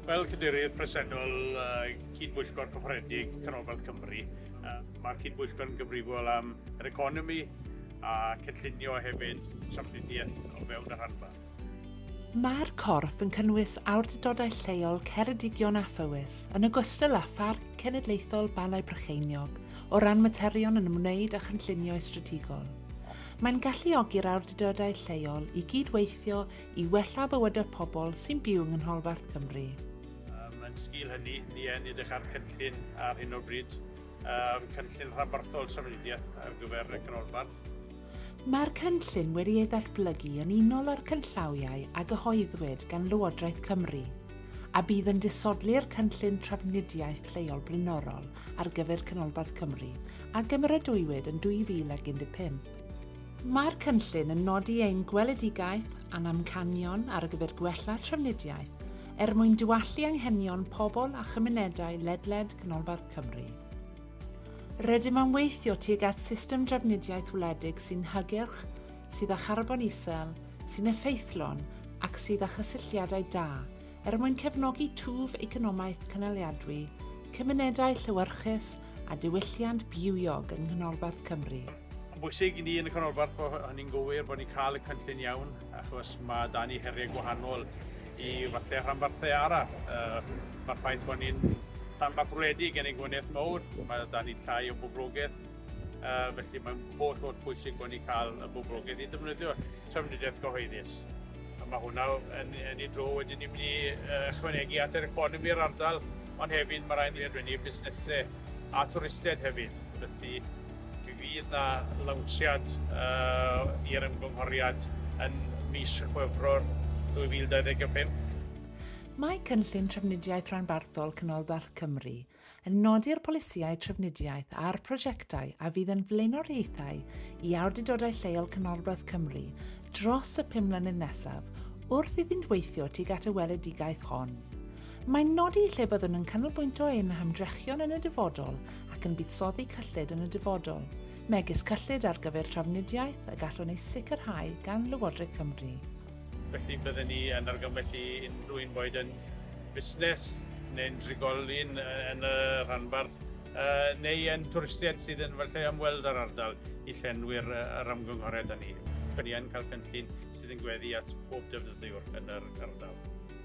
Fel cadeirydd presennol uh, cyd-bwyllgor cyffrededig Canolbarth Cymru, uh, mae'r cyd-bwyllgor yn gyfrifol am yr economi a cynllunio hefyd trafnidiaeth o fewn y rhanbarth. Mae'r corff yn cynnwys awdurdodau lleol Ceredigion a Phywys, yn ogystal â Pharc Cenedlaethol Balau Brycheiniog, o ran materion yn ymwneud â chynllunio estrategol. Mae'n galluogi'r awdurdodau lleol i gyd-weithio i wella bywyd y pobl sy'n byw yng nghanolbarth Cymru. Yn sgil hynny, ni yn edrych ar gynllun ar hyn o bryd, yym, cynllun rhanbarthol trafnidiaeth ar gyfer y canolbarth. Mae'r cynllun wedi ei ddatblygu yn unol â'r cynllawiau a gyhoeddwyd gan Lywodraeth Cymru, a bydd yn disodli'r cynllun trafnidiaeth lleol blaenorol ar gyfer canolbarth Cymru a gymeradwywyd yn 2015. Mae'r cynllun yn nodi ein gweledigaeth a'n amcanion ar gyfer gwella trafnidiaeth er mwyn diwallu anghenion pobl a chymunedau ledled Canolbarth Cymru. Rydym am weithio tuag at system drafnidiaeth wledig sy'n hygyrch, sydd â charbon isel, sy'n effeithlon ac sydd â chysylltiadau da er mwyn cefnogi twf economaidd cynaliadwy, cymunedau llewyrchus a diwylliant bywiog yng Nghanolbarth Cymru. Mae'n bwysig i ni yn y canolbarth bod hynny'n gywir, bod ni'n cael y cynllun iawn, achos mae dan ni heriau gwahanol i falle rhanbarthau arall. Uh, Mae'r ffaith bod ni'n rhanbarth wledig yn ein gwneud mawr, mae dan ni llai o boblogaeth, uh, felly mae'n holl holl bwysig bod ni'n cael y boblogaeth i ddefnyddio trafnidiaeth gyhoeddus. A mae hwnna yn, yn ei dro wedyn ni'n mynd i uh, chwanegu at yr economi i'r ardal, ond hefyd mae rhaid i ni adwennu busnesau a twristiaid hefyd. Felly Mi fydd 'na lawnsiad i'r ymgynghoriad yn mis Chwefror 2025. Mae Cynllun Trafnidiaeth Rhanbarthol Canolbarth Cymru yn nodi'r polisïau trafnidiaeth a'r prosiectau a fydd yn flaenoriaethau i awdurdodau lleol Canolbarth Cymru dros y pum mlynedd nesaf wrth iddynt weithio tuag at y weledigaeth hon. Mae'n nodi lle byddwn yn canolbwynto ein hymdrechion yn y dyfodol ac yn buddsoddi cyllid yn y dyfodol, megis cyllid ar gyfer trafnidiaeth y gallwn ei sicrhau gan Lywodraeth Cymru. Felly, bydden ni yn argymell i unrhyw un, boed yn fusnes neu'n drigolyn yn y rhanbarth neu yn twristiaid sydd yn efallai ymweld â'r ardal, i llenwi'r yr ymgynghoriad â ni. Ni yn cael cynllun sydd yn gweddu at bob defnyddiwr yn yr ardal.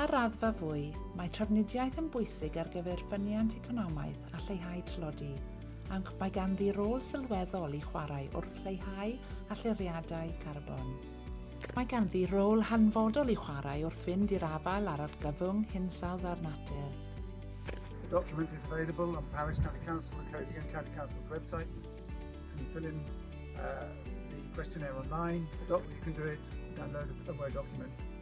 Ar raddfa fwy, mae trafnidiaeth yn bwysig ar gyfer ffyniant economaidd a lleihau tlodi, ac mae ganddi rôl sylweddol i chwarae wrth leihau allyriadau carbon. Mae ganddi rôl hanfodol i chwarae wrth fynd i'r afael â'r argyfwng hinsawdd a'r natur. The document is available on Paris County Council and County and County Council's websites. You can fill in uh, the questionnaire online. The doc you can do it, download a Word document.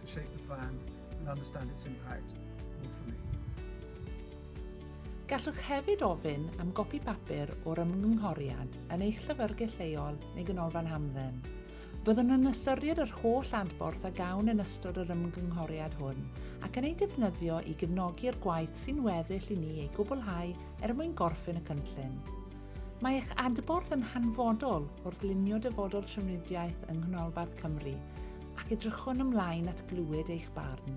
to shape the plan and understand its impact more fully. Gallwch hefyd ofyn am gopi papur o'r ymgynghoriad yn eich llyfrgell leol neu ganolfan hamdden. Byddwn yn ystyried yr holl adborth a gawn yn ystod yr ymgynghoriad hwn ac yn ei defnyddio i gefnogi'r gwaith sy'n weddill i ni ei gwblhau er mwyn gorffen y cynllun. Mae eich adborth yn hanfodol wrth lunio dyfodol trafnidiaeth yng Nghanolbarth Cymru ac edrychwn ymlaen at glywed eich barn.